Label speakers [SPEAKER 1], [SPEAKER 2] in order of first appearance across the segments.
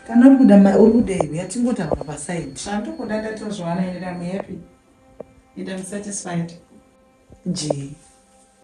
[SPEAKER 1] kana uri
[SPEAKER 2] kuda uri kuda iwe yatingotaura pasaidi zvandikuda ndatozviwana
[SPEAKER 1] iri am happy and am satisfied jii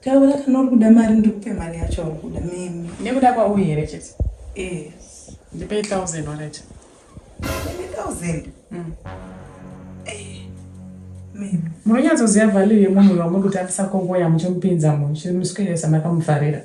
[SPEAKER 2] Taura kana uri kuda mari ndikupe mari yacho uri kuda mimi. Nekuda kwauyi here
[SPEAKER 1] chete? Yes.
[SPEAKER 2] Ndipei thousand
[SPEAKER 1] wakaita. Ndipei thousand? Mm. Eh.
[SPEAKER 2] Mimi. Munonyatsoziva
[SPEAKER 1] value yemunhu wamuri kutambisa kongoya muchimupinza munhu chimuswedesa makamufarira.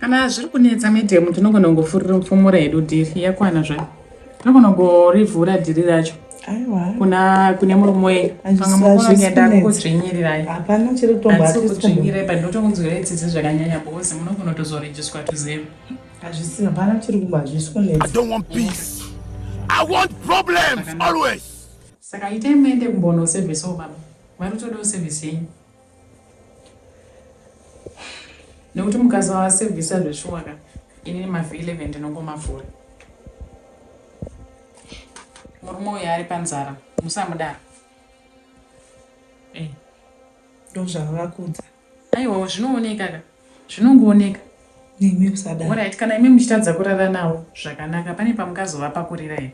[SPEAKER 1] kana zviri kunetsa medium tinogona kungofumura hedu dhiri yakwana zvayo tinogona kungorivhura dhiri racho kuna
[SPEAKER 2] kune murume
[SPEAKER 1] wedu panga mukunoenda kudzvinyirirai hapana chiri kutombaasi
[SPEAKER 2] kudzvinyirai but
[SPEAKER 1] ndotongonzwira itsitsi zvakanyanya because munogona kutozorejiswa to zero hazvisi hapana
[SPEAKER 2] chiri kumba hazvisi kunetsa i don't want peace i
[SPEAKER 3] want problems always Saka itai
[SPEAKER 1] muende kumbono servicewo baba. Mwari utodawo service yenyu. Nekuti mukasawa service zveshuwa ka ini nemavhi 11 ndinongomavhura. Murume uyo ari panzara musamudaro.
[SPEAKER 2] Eh. Ndozvavakudza. Aiwa
[SPEAKER 1] zvinooneka ka zvinongooneka. Nemi
[SPEAKER 2] usadaro. Alright kana imi muchitadza
[SPEAKER 1] kurara nawo zvakanaka pane pamukazova pakurira here.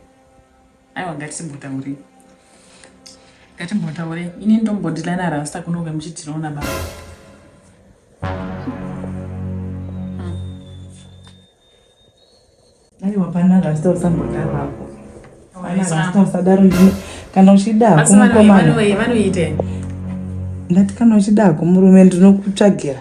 [SPEAKER 1] aiwa ngatimbotaurei ngatimbotaurei ini ndombodilana rasta kunonge muchitiroona baba hmm.
[SPEAKER 2] aiwa pana rasta usambodaro apo pana rasta usadaro kana uchida kumukomana ndati kana uchida kumurume ndinokutsvagira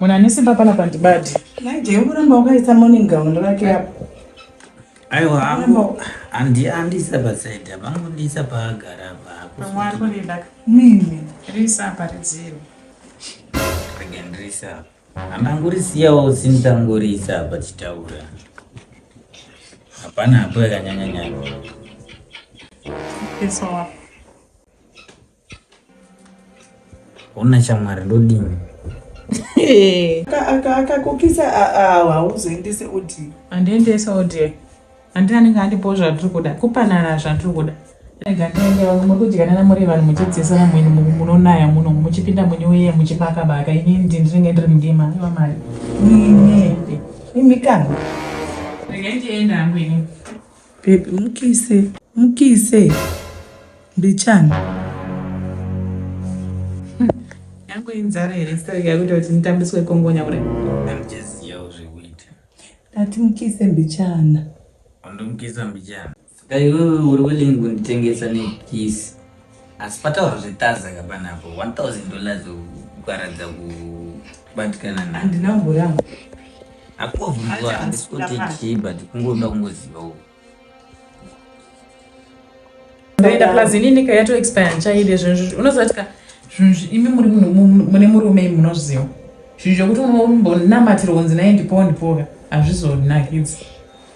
[SPEAKER 1] Munhu ane simba pana pandibadi. Naje uramba
[SPEAKER 2] wakaisa morning gown rake apo. Aiwa
[SPEAKER 4] hangu andi andisa pa side apa angondisa paagara apa. Pamwe ari kundida.
[SPEAKER 1] Mimi
[SPEAKER 2] risa apa
[SPEAKER 1] ridziro.
[SPEAKER 4] Again risa. Amangurisiyawo sindangurisa apa chitaura. Hapana hapo yakanyanya nyanya.
[SPEAKER 1] It's all.
[SPEAKER 4] Ona chamwari ndodini.
[SPEAKER 2] Akakukisa hauzoendese audio. Andiendesa audio.
[SPEAKER 1] Andina anenge andipo zvatiri kuda. Kupanana zvatiri kuda. murikudyana namuri vanhu muchidzisana mwini munonaya muno muchipinda
[SPEAKER 2] mwini weye muchibaka baka ini ndinenge ndiri mudima iva mari imi kana regai
[SPEAKER 1] ndienda hangu ini Baby
[SPEAKER 2] mukise mukise mbichana
[SPEAKER 1] yangu inzara here sitari yakuita kuti nditambiswe kongonya kudai
[SPEAKER 4] ndati
[SPEAKER 2] mukise mbichana undomukisa
[SPEAKER 4] mbichana saka iwewe uri willing kunditengesa nekisi asi pataura zvetaza ka panapo 1000 dollars ukaradza kubatikana na handina mbori yangu
[SPEAKER 2] akovhunzwa
[SPEAKER 4] handisi kuti chii but kungoda kungoziva uku
[SPEAKER 1] ndoenda plus ini nika yato expire ndichaide zvinhu unoziva kuti ka zvinhu imi muri mune murume imi munozviziva zvinhu zvekuti unombonamatira kunzi naye ndipowo ndipoka hazvizonakidzi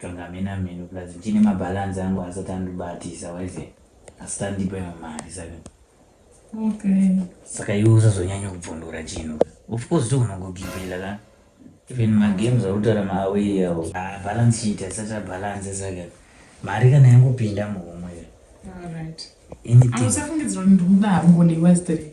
[SPEAKER 4] Tonga hamena mheno plus ndichine mabalance angu asati andibatisa waize asati andipa imwe mari saka okay saka iwe usazonyanya kubvondora chinhu of course tokunongogibhila ka even magames autaura maaway awo ah, balance sheet asati abalance saka mari kana yangopinda muhomwe anything
[SPEAKER 1] amusafungidzira kuti ndikuda hangu ndiwestere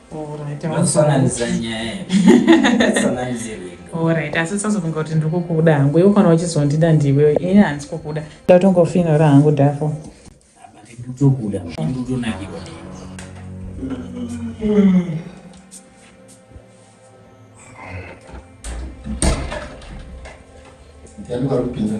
[SPEAKER 1] orit asi usazofunga kuti ndiri kukuda hangu iwe kana uchizondida ndiwe ini handisi kukuda ndatongofinora hangu dafo Yani var bir
[SPEAKER 4] bina.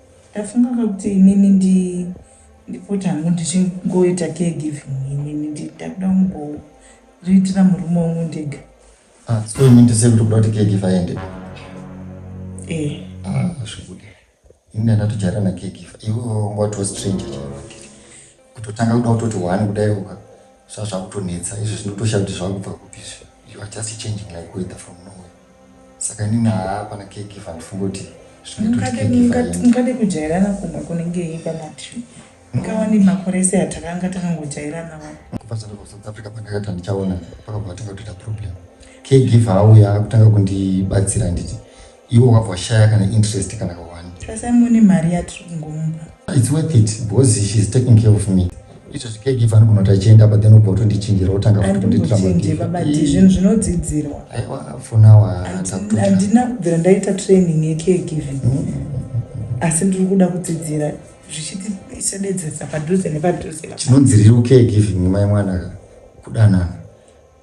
[SPEAKER 5] Ndafunga
[SPEAKER 2] kuti inini ndi ndipoti hangu ndichingoita caregiving inini ndakuda kumboritira murume wangu ndega ah, so imi
[SPEAKER 5] ndise kuti kuda kuti caregiver aende eh ah zvekuti ini ndandatojaira na caregiver iwe watiwo stranger chaivatiri kutotanga kuda kutoti one kudai uka sva zvakutonetsa izvi zvinotosha kuti zvakubva kupi izvi you are just changing like weather from nowhere saka inini haa pana caregiver ndifunge kuti zvinoitotikaade
[SPEAKER 2] kujairana kumwe kunenge ipa matri ngawani makore ese atakanga takangojairana wa kubva zandova
[SPEAKER 5] south africa pandakati handichaona pakabva vatanga kutoita problem caregiver auya akutanga kundibatsira nditi iwe wabva washaya kana interest kana kawani tasai mune mari
[SPEAKER 2] yatiri kungomupa its worth it
[SPEAKER 5] because she is taking care of me izvo zvikegiva anogonoti achienda apa then ubva utondichinjira otanga futinditirababati
[SPEAKER 2] zvinhu zvinodzidzirwa aiwa fonawa
[SPEAKER 5] handina
[SPEAKER 2] kubvira ndaita training yekegiving mm, mm, mm, asi ndiri kuda kudzidzira zvichitisededzesa padhuze nepadhuze chinonziriro kegiving
[SPEAKER 5] mai mwanaka kudanana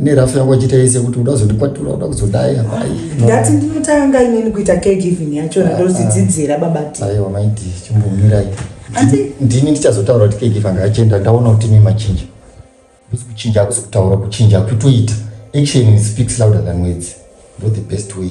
[SPEAKER 2] nerafu
[SPEAKER 5] yangu achiita yese kuti uda kuzondikwatura uda kuzodai havai ndati ndinotanga
[SPEAKER 2] inini kuita caregiving yacho ah, ndozidzidzira ah. baba ti aiwa maiti
[SPEAKER 5] chimbomirai ndini ndichazotaura kuti caregiver anga achienda ndaona kuti imi machinja kusi kuchinja akusi kutaura kuchinja kutoita action speaks louder than words ndo the best way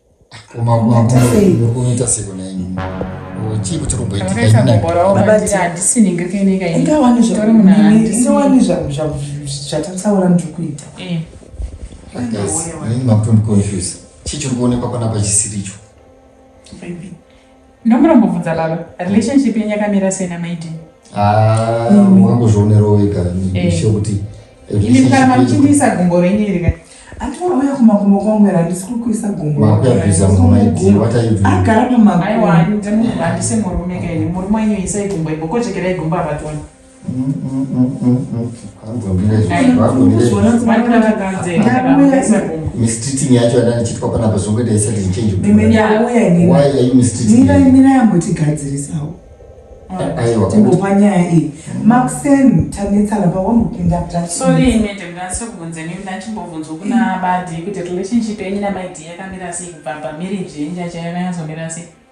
[SPEAKER 1] zvatataura
[SPEAKER 2] ndiri kuita
[SPEAKER 5] makutondikonfuse chii chiri kuonekwa panapa chisiricho
[SPEAKER 1] Ndomboda kumbobvunza baba, relationship yenyu yakamira sei na Maid? Ah, wakangozvionera
[SPEAKER 5] wega ndisho eh. kuti ini mukana
[SPEAKER 1] mamuchindiisa gumbo renyu iri kai. Atiwa uya kumakumbo
[SPEAKER 2] kwangu era ndisi kukuisa gumbo. Makuyabiza mumaid,
[SPEAKER 5] what are you doing? Agara pamakumbo. Aiwa,
[SPEAKER 2] ndimurume,
[SPEAKER 1] handisi murume kai, murume wenyu isai gumbo ipo, kochekerai gumbo apa tione.
[SPEAKER 5] mistreating yacho yada ndichitwa panapa zvongoita isati zichange mira yambotigadzirisawo timbopa nyaya iyi
[SPEAKER 2] maxen tanetsana pawambopinda
[SPEAKER 1] ptachibvunzwa kuna badi kuti relationship yenyu namai d yakamira sei kubva pamarriage yenyu chaiyo yakanyatsamira sei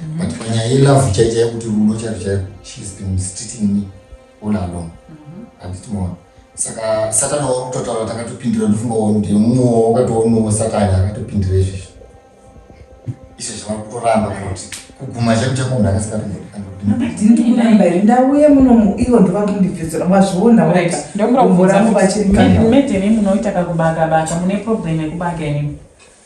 [SPEAKER 5] mm. but panyaya yelove chaicha yekuti rudo chacho chaiko she has been mistreating me all along mm-hmm. handiti mona saka satani wakutotaura takatopindira ndofunga wonde mumwe wakatoonawo satani akatopindira izvezvi izvo zvava kutoramba kuti kuguma chako chako munhu akasikatoramba here
[SPEAKER 2] ndauye munomu ivo ndova kundibvizira mazviona ndokurambo vachimedheni
[SPEAKER 1] munoita kakubakabaka mune problem yekubaka inini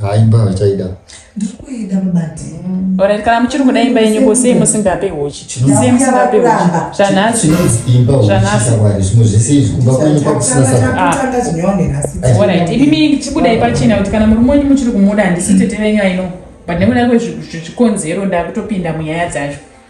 [SPEAKER 5] haa imba havachaida ndiri kuida
[SPEAKER 2] babati orit kana muchiri
[SPEAKER 1] kuda imba yenyu ko sei musingape hochi sei musingape hochi zvanhasi zvanhasizvanhasizvimwe zvese izvi kumba kwenyu kwakusina saorit imimi chibudai pachena kuti kana murume wenyu muchiri kumuda handisi tete venyu aino but nekuda kwezvikonzero ndakutopinda munyaya dzacho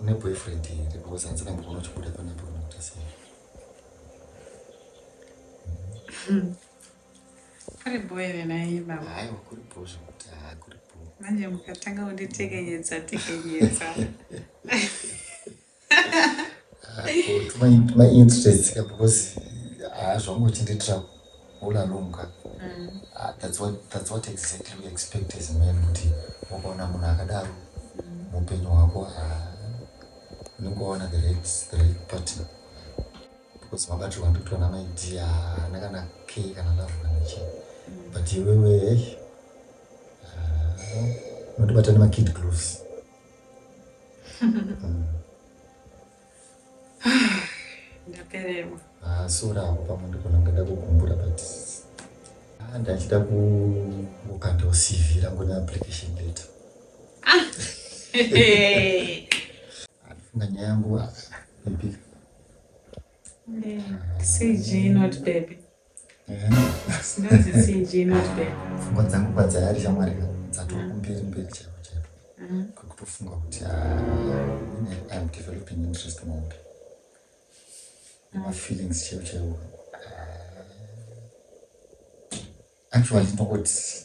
[SPEAKER 5] une boyfriend here because hanzi kamboona uchibuda panapo unokuta sei hmm.
[SPEAKER 1] kuri bho here naiye baba aiwa kuri bho zvekuti
[SPEAKER 5] haa kuri bho manje mukatanga
[SPEAKER 1] kunditekenyedza tekenyedza
[SPEAKER 5] mainterestika because hazvangoti nditravel all along ka mm. ah, that's what, that's what exactly we expect as men kuti ukaona munhu akadaro mm. muupenyu hwako ah, unongoona the right, the right partner because mabatirwa ndikuti ona maidea haana kana key kana love kana chii mm. but iwewe unotibata nemakid gloves
[SPEAKER 1] ndapererwa ah, sora
[SPEAKER 5] apo pamwe ndikona ngada kugumbura but ah, ndachida kukandawo cv rangu neapplication letter ah, andifunga nyaya yangu ipika
[SPEAKER 1] cg not baby pfungwa dzangu padzayari
[SPEAKER 5] shamwari dzatova kumberi mberi chaipo chaipo mm. kwekutofunga kuti iam ah, developing interest maupi mm. mafeelings chaipo chaipo ah. actually ndongoti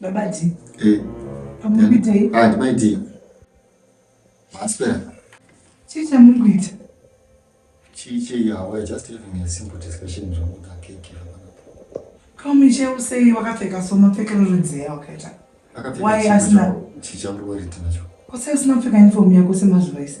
[SPEAKER 2] babadzi
[SPEAKER 5] eh. amuri kuitei ah, ndimaitei maspera chii chamuri
[SPEAKER 2] kuita
[SPEAKER 5] chii chei hawa just having a simple discussion zvangu kakeke
[SPEAKER 2] kamuche usei wakapfeka so mapfekero rudzei awakaita why asina chii chamuri woriti
[SPEAKER 5] nacho kusei usina kupfeka
[SPEAKER 2] uniform yako semazuva ese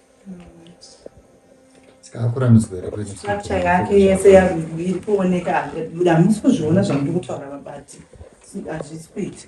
[SPEAKER 5] sikakuramidzwa here kuti structure yake yese
[SPEAKER 2] iri kuoneka buda hamusi kuzviona zvamuri kutaura vabati hazvisi kuita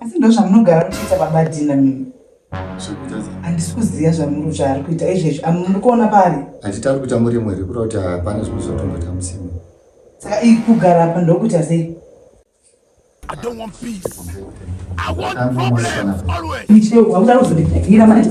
[SPEAKER 2] asi ndo zvamunogara muchiita baba dina mimi handisi kuziva zvamuri zvaari kuita izvezvi amuri kuona pari handiti ari kuita murimo
[SPEAKER 5] here kura kuti hapana zvimwe zvatomboita musimo saka i
[SPEAKER 2] kugara apa ndokuita sei
[SPEAKER 3] icheuakuda kuzondiira
[SPEAKER 2] manje